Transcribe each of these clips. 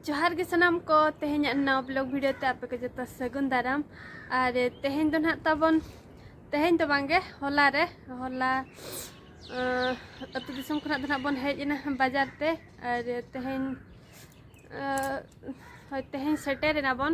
ᱡᱚᱦᱟᱨ ᱜᱮ ᱥᱟᱱᱟᱢ ᱠᱚ ᱛᱮᱦᱮᱧᱟᱜ ᱱᱟᱣᱟ ᱵᱞᱚᱜ ᱵᱷᱤᱰᱤᱭᱳ ᱛᱮ ᱟᱯᱮ ᱠᱚ ᱡᱚᱛᱚ ᱥᱟᱹᱜᱩᱱ ᱫᱟᱨᱟᱢ ᱟᱨ ᱛᱮᱦᱮᱧ ᱫᱚ ᱱᱟᱦᱟᱜ ᱛᱟᱵᱚᱱ ᱛᱮᱦᱮᱧ ᱫᱚ ᱵᱟᱝᱜᱮ ᱦᱚᱞᱟ ᱨᱮ ᱦᱚᱞᱟ ᱟᱹᱛᱩ ᱫᱤᱥᱚᱢ ᱠᱷᱚᱱᱟᱜ ᱫᱚ ᱱᱟᱦᱟᱜ ᱵᱚᱱ ᱦᱮᱡ ᱮᱱᱟ ᱵᱟᱡᱟᱨ ᱛᱮ ᱟᱨ ᱛᱮᱦᱮᱧ ᱦᱳᱭ ᱛᱮᱦᱮᱧ ᱥᱮᱴᱮᱨ ᱮᱱᱟ ᱵᱚᱱ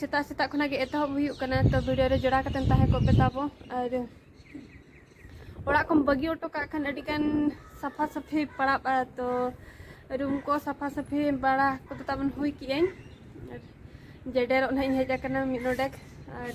ᱥᱮᱛᱟᱜ ᱥᱮᱛᱟᱜ ᱠᱷᱚᱱᱟᱜ ᱜᱮ ᱮᱛᱚᱦᱚᱵ ᱦᱩᱭᱩᱜ ᱠᱟᱱᱟ ᱛᱚ ᱵᱷᱤᱰᱤᱭᱳ ᱨᱮ ᱡᱚᱲᱟᱣ ᱠᱟᱛᱮᱢ ᱛᱟᱦᱮᱸ ᱠᱚᱜ ᱯᱮ ᱛᱟᱵᱚ ᱟᱨ ᱚᱲᱟᱜ ᱠᱚᱢ ᱵᱟᱹᱜᱤ ᱚᱴᱚ ᱠᱟᱜ ᱠᱷᱟᱱ ᱟᱹᱰᱤ ᱜᱟᱱ ᱥᱟᱯᱷᱟ ᱥᱟᱹᱯᱷᱤ ᱯᱟᱲᱟᱜᱼᱟ ᱛᱚ ᱨᱩᱢ ᱠᱚ ᱥᱟᱯᱷᱟ ᱥᱟᱹᱯᱷᱤ ᱵᱟᱲᱟ ᱠᱚᱫᱚ ᱛᱟᱵᱚᱱ ᱦᱩᱭ ᱠᱮᱜᱼᱟᱹᱧ ᱟᱨ ᱡᱮᱰᱮᱨᱚᱜ ᱱᱟᱦᱟᱜ ᱤᱧ ᱦᱮᱡ ᱟᱠᱟᱱᱟ ᱢᱤᱫ ᱱᱚᱰᱮᱠ ᱟᱨ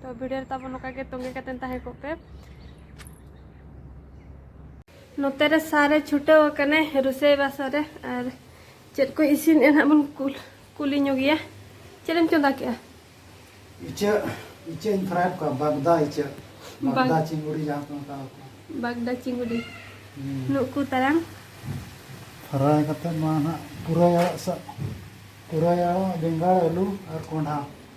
ᱛᱚ ᱵᱷᱤᱰᱤᱭᱳ ᱨᱮ ᱛᱟᱵᱚᱱ ᱱᱚᱝᱠᱟ ᱜᱮ ᱛᱚᱸᱜᱮ ᱠᱟᱛᱮ ᱛᱟᱦᱮᱸ ᱠᱚᱜ ᱯᱮ ᱱᱚᱛᱮ ᱨᱮ ᱥᱟᱨᱮ ᱪᱷᱩᱴᱟᱹᱣ ᱟᱠᱟᱱᱟ ᱨᱩᱥᱟᱹᱭ ᱵᱟᱥᱟ ᱨᱮ ᱟᱨ ᱪᱮᱫ ᱠᱚ ᱤᱥᱤᱱ ᱮ ᱱᱟᱦᱟᱜ ᱵᱚᱱ ᱠᱩᱞ ᱠᱩᱞᱤ ᱧᱚᱜ ᱜᱮᱭᱟ ᱪᱮᱫ ᱮᱢ ᱪᱚᱸᱫᱟ ᱠᱮᱜᱼᱟ ᱤᱪᱟᱹᱜ ᱤᱪᱟᱹᱜ ᱤᱧ ᱯᱷᱨᱟᱭ ᱠᱚᱣᱟ ᱵᱟᱜᱫᱟ ᱤᱪᱟᱹᱜ ᱵᱟᱜᱫᱟ ᱪᱤᱝᱜᱩᱲᱤ ᱡᱟᱦᱟᱸ ᱠᱚ ᱢᱮᱛᱟᱣ ᱠᱚᱣᱟ ᱵᱟᱜᱫᱟ ᱪᱤᱝᱜᱩᱲᱤ ᱱᱩᱠᱩ ᱛᱟᱨᱟᱝ ᱯᱷᱨᱟᱭ ᱠᱟᱛᱮ ᱱᱚᱣᱟ ᱱᱟᱦᱟᱜ ᱯᱩᱨᱟᱹᱭ ᱟᱲᱟᱜ ᱥᱟᱜ ᱯᱩᱨᱟᱹᱭ ᱟᱲᱟᱜ ᱵᱮᱸᱜᱟᱲ ᱟᱹᱞᱩ ᱟᱨ ᱠᱚᱸᱰᱷᱟ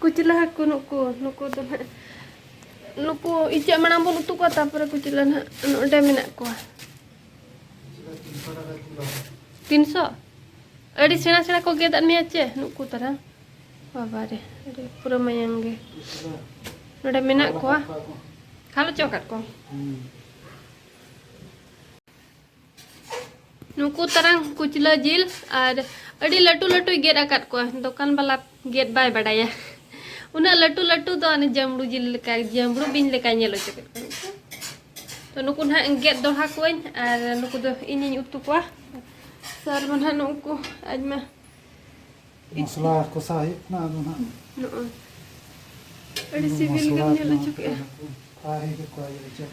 ᱠᱩᱪᱞᱟᱹ ᱦᱟᱹᱠᱩ ᱱᱩᱠᱩ ᱱᱩᱠᱩ ᱫᱚ ᱱᱟᱜ ᱱᱩᱠᱩ ᱤᱪᱟᱹᱜ ᱢᱟᱲᱟᱝ ᱵᱚᱱ ᱩᱛᱩ ᱠᱚᱣᱟ ᱛᱟᱨᱯᱚᱨᱮ ᱠᱩᱪᱞᱟᱹ ᱱᱟᱜ ᱱᱚᱰᱮ ᱢᱮᱱᱟᱜ ᱠᱚᱣᱟ ᱛᱤᱱᱥᱚ ᱟᱹᱰᱤ ᱥᱮᱬᱟ ᱥᱮᱬᱟ ᱠᱚ ᱜᱮᱫᱟᱜ ᱢᱮᱭᱟ ᱪᱮ ᱱᱩᱠᱩ ᱛᱟᱨᱟ ᱵᱟᱵᱟ ᱨᱮ ᱟᱹᱰᱤ ᱯᱩᱨᱟᱹ ᱢᱟᱭᱟᱝ ᱜᱮ ᱱᱚᱰᱮ ᱢᱮᱱᱟᱜ ᱠᱚᱣᱟ ᱠᱷᱟᱞᱚ ᱪᱚ ᱟᱠᱟᱫ ᱠᱚᱣᱟ ᱱᱩᱠᱩ ᱛᱟᱨᱟᱝ ᱠᱩᱪᱞᱟᱹ ᱡᱤᱞ ᱟᱨ ᱟᱹᱰᱤ ᱞᱟᱹᱴᱩ ᱞᱟᱹᱴᱩᱭ ᱜᱮᱫ ᱟᱠᱟᱫ ᱠᱚᱣᱟ ᱫᱚᱠᱟᱱ ᱵᱟᱞᱟ ᱜᱮᱫ ᱵᱟᱭ ᱵᱟᱰᱟᱭᱟ ᱩᱱᱟᱹᱜ ᱞᱟᱹᱴᱩ ᱞᱟᱹᱴᱩ ᱫᱚ ᱚᱱᱮ ᱡᱟᱢᱲᱩ ᱡᱤᱞ ᱞᱮᱠᱟ ᱡᱟᱢᱲᱩ ᱵᱤᱧ ᱞᱮᱠᱟ ᱧᱮᱞ ᱚᱪᱚ ᱠᱮᱫ ᱠᱚᱣᱟ ᱛᱚ ᱱᱩᱠᱩ ᱱᱟᱦᱟᱜ ᱜᱮᱫ ᱫᱚᱲᱦᱟ ᱠᱚᱣᱟᱹᱧ ᱟᱨ ᱱᱩᱠᱩ ᱫᱚ ᱤᱧᱤᱧ ᱩᱛᱩ ᱠᱚᱣᱟ ᱥᱟᱨ ᱢᱟ ᱱᱟᱦᱟᱜ ᱱᱩᱠᱩ ᱟᱡᱢᱟ ᱢᱚᱥᱞᱟ ᱠᱚᱥᱟ ᱦᱩᱭᱩᱜ ᱠᱟᱱᱟ ᱟᱫᱚ ᱱᱟᱦᱟᱜ ᱱᱚᱜᱼᱚᱭ ᱟᱹᱰᱤ ᱥᱤᱵᱤᱞ ᱜᱮᱢ ᱧᱮᱞ ᱚᱪᱚ ᱠᱮᱫᱼᱟ ᱟᱨ ᱦᱮᱡ ᱠᱚᱣᱟ ᱤᱭᱟᱹ ᱪᱮᱫ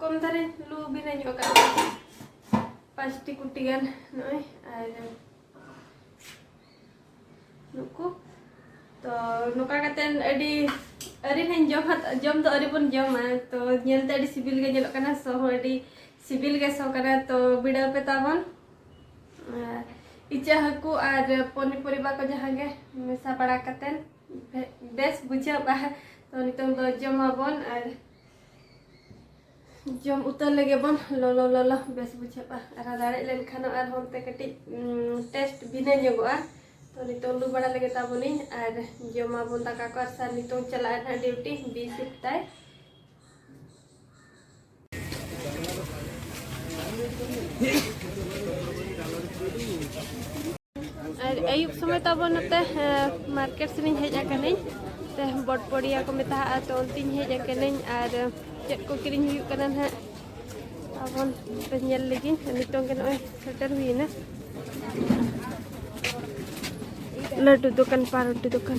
ᱠᱚᱢ ᱫᱟᱨᱮ ᱞᱩ ᱵᱤᱱᱟᱹ ᱧᱚᱜ ᱠᱟᱜ ᱯᱟᱸᱪᱴᱤ ᱠᱩᱴᱤ ᱜᱟᱱ ᱱᱚᱜᱼᱚᱭ ᱟᱨ ᱱᱩᱠᱩ ᱛᱚ ᱱᱚᱝᱠᱟ ᱠᱟᱛᱮᱫ ᱟᱹᱰᱤ ᱟᱹᱨᱤ ᱞᱤᱧ ᱡᱚᱢ ᱡᱚᱢ ᱫᱚ ᱟᱹᱨᱤ ᱵᱚᱱ ᱡᱚᱢᱟ ᱛᱚ ᱧᱮᱞᱛᱮ ᱟᱹᱰᱤ ᱥᱤᱵᱤᱞ ᱜᱮ ᱧᱮᱞᱚᱜ ᱠᱟᱱᱟ ᱥᱚ ᱦᱚᱸ ᱟᱹᱰᱤ ᱥᱤᱵᱤᱞ ᱜᱮ ᱥᱚ ᱠᱟᱱᱟ ᱛᱚ ᱵᱤᱰᱟᱹᱣ ᱯᱮ ᱛᱟᱵᱚᱱ ᱤᱪᱟᱹᱜ ᱦᱟᱹᱠᱩ ᱟᱨ ᱯᱚᱱᱤ ᱯᱚᱨᱤᱵᱟ ᱠᱚ ᱡᱟᱦᱟᱸ ᱜᱮ ᱢᱮᱥᱟ ᱵᱟᱲᱟ ᱠᱟᱛᱮᱫ ᱵᱮᱥ ᱵᱩᱡᱷᱟᱹᱜᱼᱟ ᱛᱚ ᱱᱤᱛᱚᱝ ᱫᱚ ᱡᱚᱢᱟᱵᱚᱱ ᱟᱨ ᱡᱚᱢ ᱩᱛᱟᱹᱨ ᱞᱮᱜᱮ ᱵᱚᱱ ᱞᱚᱞᱚ ᱞᱚᱞᱚ ᱵᱮᱥ ᱵᱩᱡᱷᱟᱹᱜᱼᱟ ᱟᱨ ᱫᱟᱲᱮᱜ ᱞᱮᱱᱠᱷᱟᱱ ᱟᱨ ᱦᱚᱱᱛᱮ ᱠᱟᱹᱴᱤᱡ ᱴᱮᱥᱴ ᱵᱷᱤᱱᱟᱹ ᱧᱚᱜᱚᱜᱼᱟ ᱛᱚ ᱱᱤᱛᱚᱝ ᱞᱩ ᱵᱟᱲᱟ ᱞᱮᱜᱮ ᱛᱟᱵᱚᱱᱤᱧ ᱟᱨ ᱡᱚᱢᱟᱵᱚᱱ ᱫᱟᱠᱟ ᱠᱚ ᱟᱨ ᱥᱟᱨ ᱱᱤᱛᱚᱝ ᱪᱟᱞᱟᱜᱼᱟ ᱱᱟᱦᱟᱜ ᱰᱤᱭᱩᱴᱤ ᱵᱤ ᱥᱤᱯᱴ ᱛᱟᱭ ᱟᱨ ᱟᱹᱭᱩᱵ ᱥᱚᱢᱚᱭ ᱛᱟᱵᱚ ᱱᱚᱛᱮ ᱢᱟᱨᱠᱮᱴ ᱥᱮᱱᱤᱧ ᱦᱮᱡ ᱟᱠᱟᱱᱟᱹᱧ ᱛᱮ ᱵᱚᱴᱯᱚᱲᱤᱭᱟ ᱠᱚ ᱢᱮᱛᱟᱜᱼᱟ ᱛᱚ ᱚᱱᱛᱮᱧ ᱦᱮᱡ ᱟᱠᱟᱱᱟᱹᱧ ᱟᱨ ᱪᱮᱫ ᱠᱚ ᱠᱤᱨᱤᱧ ᱦᱩᱭᱩᱜ ᱠᱟᱱᱟ ᱱᱟᱦᱟᱜ ᱟᱵᱚᱱ ᱧᱮᱞ ᱞᱮᱜᱮ ᱱᱤᱛᱚᱝ ᱜᱮ ᱱᱚᱜᱼᱚᱭ ᱥᱮᱴᱮᱨ ᱦᱩᱭᱮᱱᱟ ᱞᱟᱹᱰᱩ ᱫᱚᱠᱟᱱ ᱯᱟᱨᱚᱴᱤ ᱫᱚᱠᱟᱱ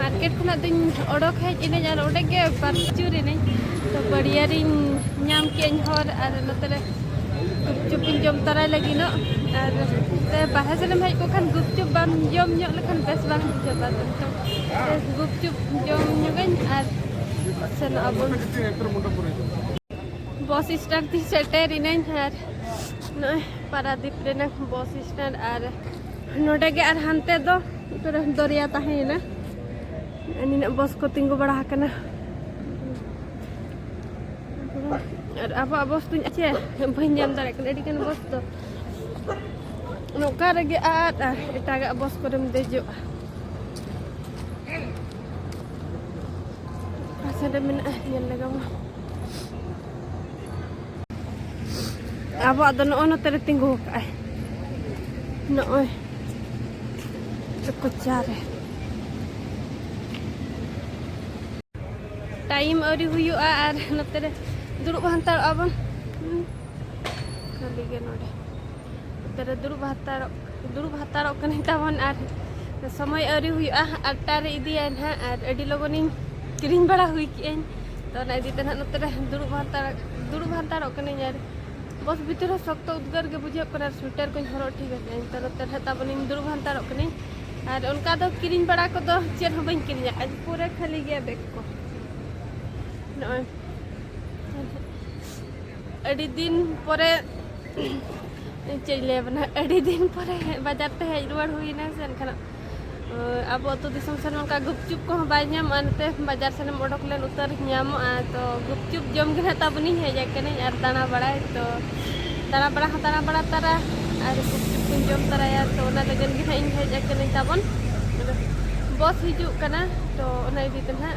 ᱢᱟᱨᱠᱮᱴ ᱠᱷᱚᱱᱟᱜ ᱫᱚᱧ ᱚᱰᱚᱠ ᱦᱮᱡ ᱮᱱᱟᱹᱧ ᱟᱨ ᱚᱸᱰᱮ ᱜᱮ ᱯᱟᱨᱪᱩᱨ ᱮᱱᱟᱹᱧ ᱛᱚ ᱵᱟᱹᱲᱤᱭᱟᱨᱤᱧ ᱧᱟᱢ ᱠᱮᱫᱟᱹᱧ ᱦᱚᱨ ᱟᱨ ᱱᱚᱛᱮ ᱨᱮ ᱜᱩᱯᱪᱩᱯ ᱤᱧ ᱡᱚᱢ ᱛᱟᱨᱟᱭ ᱞᱟᱹᱜᱤᱫᱚᱜ ᱟᱨ ᱵᱟᱦᱨᱮ ᱥᱮᱱᱮᱢ ᱦᱮᱡ ᱠᱚ ᱠᱷᱟᱱ ᱜᱩᱯᱪᱩᱯ ᱵᱟᱢ ᱡᱚᱢ ᱧᱚᱜ ᱞᱮᱠᱷᱟᱱ ᱵᱮᱥ ᱵᱟᱝ ᱵᱩᱡᱷᱟᱹᱜᱼᱟ ᱛᱚ ᱜᱩᱯᱪᱩᱯ ᱡᱚᱢ ᱧᱚᱜᱟᱹᱧ ᱟᱨ ᱥᱮᱱᱚᱜ ᱟᱵᱚᱱ ᱵᱚᱥ ᱥᱴᱮᱱᱰ ᱛᱮ ᱥᱮᱴᱮᱨ ᱮᱱᱟᱹᱧ ᱟᱨ ᱱᱚᱜᱼᱚᱭ ᱯᱟᱨᱟᱫᱤᱯ ᱨᱮᱱᱟᱜ ᱵᱚᱥ ᱥᱴᱮᱱᱰ ᱟᱨ ᱱᱚᱰᱮ ᱜᱮ ᱟᱨ ᱦᱟᱱᱛᱮ ᱫᱚ ᱯᱩᱨᱟᱹ ᱫᱚᱨᱭᱟ ᱛᱟᱦᱮᱸᱭᱮᱱᱟ ᱱᱤᱱᱟᱹᱜ ᱵᱚᱥ ᱠᱚ ᱛᱤᱸᱜᱩ ᱵᱟᱲᱟ ᱟᱠᱟᱱᱟ ᱟᱨ ᱟᱵᱚᱣᱟᱜ ᱵᱚᱥ ᱫᱚᱧ ᱟᱪᱮ ᱵᱟᱹᱧ ᱧᱟᱢ ᱫᱟᱲᱮᱭᱟᱜ ᱠᱟᱱᱟ ᱟᱹᱰᱤᱜᱟᱱ ᱵᱚᱥ ᱫᱚ ᱱᱚᱝᱠᱟ ᱨᱮᱜᱮ ᱟᱨ ᱮᱴᱟᱜᱟᱜ ᱵᱚᱥ ᱠᱚᱨᱮᱢ ᱫᱮᱡᱚᱜᱼᱟ ᱯᱟᱥᱮ ᱨᱮ ᱢᱮᱱᱟᱜᱼᱟ ᱧᱮᱞ ᱞᱮᱜᱟᱣᱟ ᱟᱵᱚᱣᱟᱜ ᱫᱚ ᱱᱚᱜᱼᱚᱭ ᱱᱚᱛᱮ ᱨᱮ ᱛᱤᱸᱜᱩ ᱟᱠᱟᱫᱼᱟᱭ ᱱᱚᱜᱼᱚᱭ ᱠᱚᱪᱟ ᱨᱮ ᱴᱟᱭᱤᱢ ᱟᱹᱣᱨᱤ ᱦᱩᱭᱩᱜᱼᱟ ᱟᱨ ᱱᱚᱛᱮ ᱨᱮ ᱫᱩᱲᱩᱵ ᱦᱟᱱᱛᱟᱲᱚᱜᱼᱟ ᱵᱚᱱ ᱠᱷᱟᱹᱞᱤ ᱜᱮ ᱱᱚᱰᱮ ᱛᱟᱨᱮ ᱫᱩᱲᱩᱵ ᱦᱟᱛᱟᱲᱚᱜ ᱫᱩᱲᱩᱵ ᱦᱟᱛᱟᱲᱚᱜ ᱠᱟᱱᱟᱹᱧ ᱛᱟᱵᱚᱱ ᱟᱨ ᱥᱚᱢᱚᱭ ᱟᱹᱣᱨᱤ ᱦᱩᱭᱩᱜᱼᱟ ᱟᱴᱴᱟ ᱨᱮ ᱤᱫᱤᱭᱟᱭ ᱱᱟᱦᱟᱜ ᱟᱨ ᱟᱹᱰᱤ ᱞᱚᱜᱚᱱᱤᱧ ᱠᱤᱨᱤᱧ ᱵᱟᱲᱟ ᱦᱩᱭ ᱠᱮᱜᱼᱟᱹᱧ ᱛᱚ ᱚᱱᱟ ᱤᱫᱤ ᱛᱮ ᱱᱟᱦᱟᱜ ᱱᱚᱛᱮ ᱨᱮ ᱫᱩᱲᱩᱵ ᱦᱟᱛᱟᱲ ᱫᱩᱲᱩᱵ ᱦᱟᱛᱟᱲᱚᱜ ᱠᱟᱹᱱᱟᱹᱧ ᱟᱨ ᱵᱚᱥ ᱵᱷᱤᱛᱤᱨ ᱨᱮ ᱥᱚᱠᱛᱚ ᱩᱫᱽᱜᱟᱹᱨ ᱜᱮ ᱵᱩᱡᱷᱟᱹᱜ ᱠᱟᱱᱟ ᱟᱨ ᱥᱩᱭᱴᱟᱨ ᱠᱚᱧ ᱦᱚᱨᱚᱜ ᱴᱷᱤᱠ ᱟᱠᱟᱫᱟᱹᱧ ᱛᱚ ᱱᱚᱛᱮ ᱨᱮ ᱛᱟᱵᱚᱱᱤᱧ ᱫᱩᱲᱩᱵ ᱦᱟᱛᱟᱲᱚᱜ ᱠᱟᱹᱱᱟᱹᱧ ᱟᱨ ᱚᱱᱠᱟ ᱫᱚ ᱠᱤᱨᱤᱧ ᱵᱟᱲᱟ ᱠᱚᱫᱚ ᱪᱮᱫ ᱦᱚᱸ ᱵᱟᱹᱧ ᱠᱤᱨᱤᱧ ᱟᱠᱟᱫᱼᱟ ᱯᱩᱨᱟᱹ ᱠᱷᱟᱹᱞᱤ ᱜᱮᱭᱟ ᱵᱮᱜᱽ ᱠᱚ ᱱᱚᱜᱼᱚᱭ ᱟᱹᱰᱤ ᱫᱤᱱ ᱯᱚᱨᱮ ᱪᱮᱫ ᱤᱧ ᱞᱟᱹᱭᱟᱵᱚᱱᱟ ᱟᱹᱰᱤ ᱫᱤᱱ ᱯᱚᱨᱮ ᱵᱟᱡᱟᱨ ᱛᱮ ᱦᱮᱡ ᱨᱩᱣᱟᱹᱲ ᱦᱩᱭᱱᱟ ᱥᱮ ᱮᱱᱠᱷᱟᱱ ᱟᱵᱚ ᱟᱹᱛᱩ ᱫᱤᱥᱚᱢ ᱥᱮᱱ ᱚᱱᱠᱟ ᱜᱩᱯᱪᱩᱯ ᱠᱚᱦᱚᱸ ᱵᱟᱭ ᱧᱟᱢᱚᱜᱼᱟ ᱱᱚᱛᱮ ᱵᱟᱡᱟᱨ ᱥᱮᱱᱮᱢ ᱚᱰᱚᱠ ᱞᱮᱱ ᱩᱛᱟᱹᱨ ᱧᱟᱢᱚᱜᱼᱟ ᱛᱚ ᱜᱩᱯᱪᱩᱯ ᱡᱚᱢ ᱜᱮ ᱱᱟᱜ ᱛᱟᱵᱚᱱᱤᱧ ᱦᱮᱡ ᱟᱠᱟᱱᱟᱹᱧ ᱟᱨ ᱫᱟᱬᱟ ᱵᱟᱲᱟᱭ ᱛᱚ ᱫᱟᱬᱟ ᱵᱟᱲᱟ ᱦᱚᱸ ᱫᱟᱬᱟ ᱵᱟᱲᱟ ᱛᱟᱨᱟ ᱟᱨ ᱜᱩᱯᱪᱩᱯ ᱠᱚᱧ ᱡᱚᱢ ᱛᱟᱨᱟᱭᱟ ᱛᱚ ᱚᱱᱟ ᱞᱟᱹᱜᱤᱫ ᱜᱮ ᱱᱟᱜ ᱤᱧ ᱦᱮᱡ ᱟᱠᱟᱱᱟᱹᱧ ᱛᱟᱵᱚᱱ ᱵᱚᱥ ᱦᱤᱡᱩᱜ ᱠᱟᱱᱟ ᱛᱚ ᱚᱱᱟ ᱤᱫᱤ ᱛᱮ ᱱᱟᱜ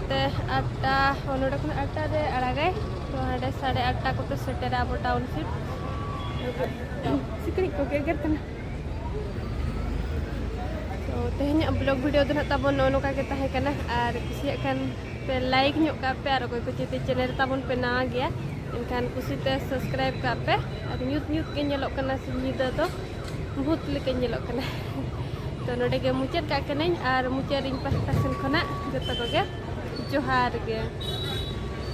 ᱛᱮ ᱟᱴᱴᱟ ᱱᱚᱰᱮ ᱠᱷᱚᱱ ᱟᱴᱴᱟ ᱨᱮ ᱟᱲᱟᱜᱟᱭ ᱛᱚ ᱦᱟᱸᱰᱮ ᱥᱟᱲᱮ ᱟᱴᱴᱟ ᱠᱚᱛᱮ ᱥᱮᱴᱮᱨᱟ ᱟᱵᱚ ᱴᱟᱣᱩᱱᱥᱤᱯ ᱥᱤᱠᱲᱤᱡ ᱠᱚ ᱜᱮᱜᱮᱨ ᱠᱟᱱᱟ ᱛᱚ ᱛᱮᱦᱮᱧᱟᱜ ᱵᱞᱚᱜ ᱵᱷᱤᱰᱤᱭᱳ ᱫᱚ ᱱᱟᱜ ᱛᱟᱵᱚᱱ ᱱᱚᱜᱼᱚ ᱱᱚᱝᱠᱟ ᱜᱮ ᱛᱟᱦᱮᱸ ᱠᱟᱱᱟ ᱟᱨ ᱠᱩᱥᱤᱭᱟᱜ ᱠᱷᱟᱱ ᱯᱮ ᱞᱟᱭᱤᱠ ᱧᱚᱜ ᱠᱟᱜ ᱯᱮ ᱟᱨ ᱚᱠᱚᱭ ᱠᱚ ᱪᱮᱛᱮ ᱪᱮᱱᱮᱞ ᱛᱟᱵᱚᱱ ᱯᱮ ᱱᱟᱣᱟ ᱜᱮᱭᱟ ᱮᱱᱠᱷᱟᱱ ᱠᱩᱥᱤᱛᱮ ᱥᱟᱵᱥᱠᱨᱟᱭᱤᱵ ᱠᱟᱜ ᱯᱮ ᱟᱨ ᱧᱩᱛ ᱧᱩᱛ ᱜᱮ ᱧᱮᱞᱚᱜ ᱠᱟᱱᱟ ᱥᱤᱧ ᱧᱤᱫᱟᱹ ᱫᱚ ᱵᱷᱩᱛ ᱞᱮᱠᱟᱧ ᱧᱮᱞᱚᱜ ᱠᱟᱱᱟ ᱛᱚ ᱱᱚᱰᱮ ᱜᱮ ᱢᱩᱪᱟᱹᱫ ᱠᱟᱜ ᱠᱟᱹᱱᱟᱹᱧ ᱟᱨ ᱢᱩᱪᱟᱹᱫ ᱨᱤᱧ ᱯᱟᱥᱴᱟ ᱥᱮᱱ ᱠᱷᱚᱱᱟᱜ ᱡᱚᱛᱚ ᱠᱚᱜᱮ ᱡᱚᱦᱟᱨ ᱜᱮ